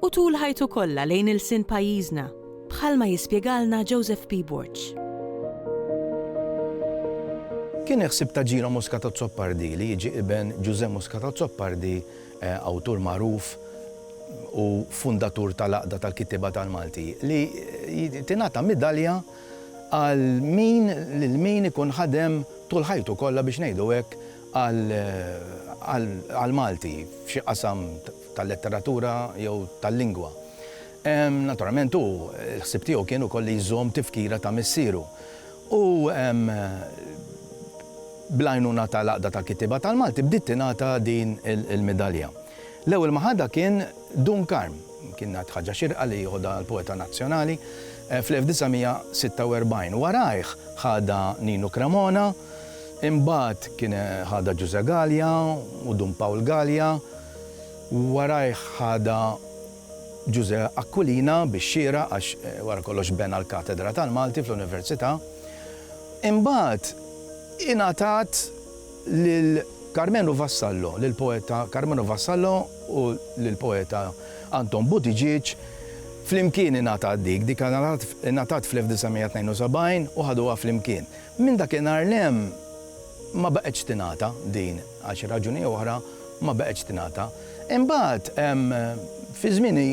u tul ħajtu kollha lejn ilsien pajjiżna, bħalma jispjegalna Joseph P. Borg. Kien il-ħsieb ta' Gino Muscat Azzopardi li jiġi iben Ġużè Muscat Azzopardi, awtur magħruf u fundatur tal-Għaqda tal-Kittieba tal-Malti, li tingħata midalja għal min lil min ikun ħadem tul ħajtu kollha biex ngħidu hekk għall-Malti f'xi qasam tal-letteratura jew tal-lingwa. Naturalment hu, l-ħsieb tiegħu kien ukoll li jżomm tifkira ta' missieru. U bl-għajnuna tal-Għaqda tal-Kittieba tal-Malti bdiet tingħata din il-midalja. L-ewwel ma ħadha kien Dun Karm. Kienet ħaġa xierqa li jieħodha l-poeta nazzjonali fl-1946. Warajh ħadha Ninu Cremona. Imbagħad kien ħadha Ġużè Galea u Dun Pawl Galea, warajh ħadha Ġużè Aquilina bix-xieraq għax wara kollox bena l-Katedra tal-Malti fl-Università. Imbagħad ingħatat lil Karmenu Vassallo, lill-poeta Karmenu Vassallo u lill-poeta Anton Buttigieg, flimkien ingħatat dik, dik ingħatat fl-1972 u ħaduha flimkien. Minn dakinhar 'l hemm ma baqgħetx tingħata din għal xi raġuni jew oħra ma baqgħetx tingħata. Imbagħad fi żmieni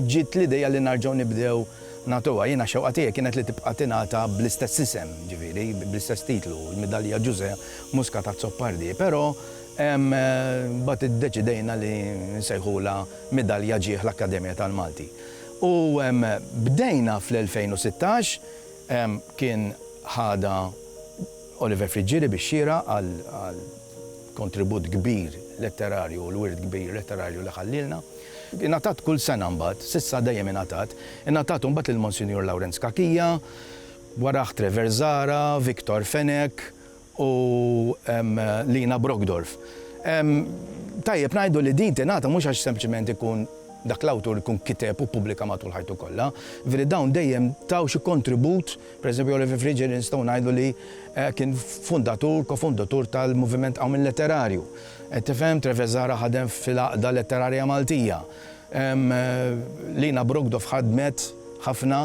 ġiet l-idea li narġgħu nibdew nagħtuha. Jiena x-xewqa tiegħi kienet li tibqa' tingħata bl-istess isem, ġifieri bl-istess titlu, il-Midalja Ġużè Muscat Azzopardi, però mbagħad iddeċidejna li nsejħulha Midalja Ġieħ l-Akkademja tal-Malti. U bdejna fl-2016, Kien ħadha Oliver Friggieri bix-xieraq għall-kontribut kbir letterarju u l-wirt kbir letterarju li ħallielna. Ingħatat kull sena mbagħad, s'issa dejjem ingħatat, ingħatat imbagħad lil Monsinjur Lawrenz Cachia, warajh Trevor Zahra, Victor Fenech, u Lina Brockdorff. Tajjeb ngħidu li din tingħata mhux għax sempliċement ikun dak l-awtur ikun kiteb u ppubblika matul ħajtu kollha, jiġifieri dawn dejjem taw xi kontribut, pereżempju Oliver Friggieri nistgħu ngħidu li kien fundatur, kofundatur tal-moviment Qawmien Letterarju. Qed tifhem? Trevezara ħadem fil-Għaqda Letterarja Maltija. Lina Brockdorff ħadmet ħafna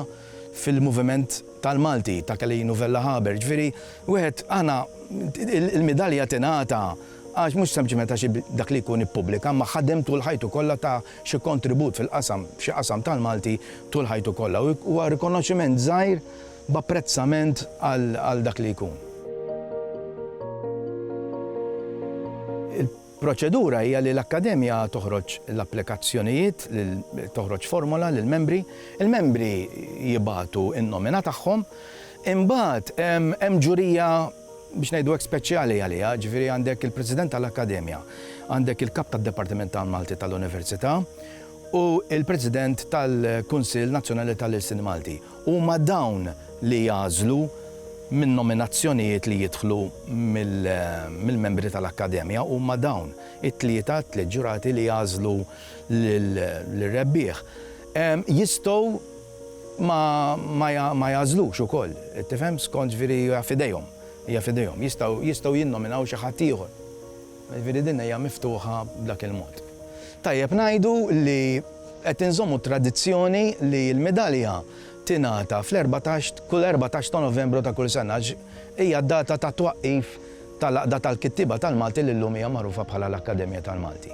fil-moviment. tal-Malti ta' Kelly Nouvella Haber. Ġifieri wieħed aħna il-midalja tingħata għax mhux sempliċement għax dak li jkun ippubblika imma ħadem tul ħajtu kollha ta xi kontribut fil-qasam f'xi qasam tal-Malti tul ħajtu kollha. Huwa rikonoxximent żgħir b'apprezzament għal dak li jkun. Proċedura hija li l-Akkademja toħroġ l-applikazzjonijiet lil toħroġ formola lill-membri, il-membri jibagħtu n-nomina tagħhom, imbagħad hemm ġurija biex ngħidu hekk speċjali għaliha, ġifieri għandek il-President tal-Akkademja, għandek il-Kap tad-Dipartiment tal-Malti tal-Università u l-President tal-Kunsill Nazzjonali tal-Ilsien Malti. Huma dawn li jagħżlu min-nominazzjonijiet li jidħlu mill-membri tal-Akkademja, huma dawn it-tlieta, t-tliet ġurati li jagħżlu lir-rebbieħ. Jistgħu ma jagħżlux ukoll, tifhem, skont, ġifieri hija f'idejhom, hija f'idejhom. Jistgħu jinnominaw xi ħadd ieħor. Jiġifieri din hija miftuħa b'dak il-mod. Tajjeb ngħidu li qed inżommu t-tradizzjoni li l-midalja tingħata fl-erbatax, kull erbatax ta' Novembru ta' kull sena għax hija d-data tat-twaqqif tal-Għaqda tal-Kittieba tal-Malti li llum hija magħrufa bħala l-Akkademja tal-Malti.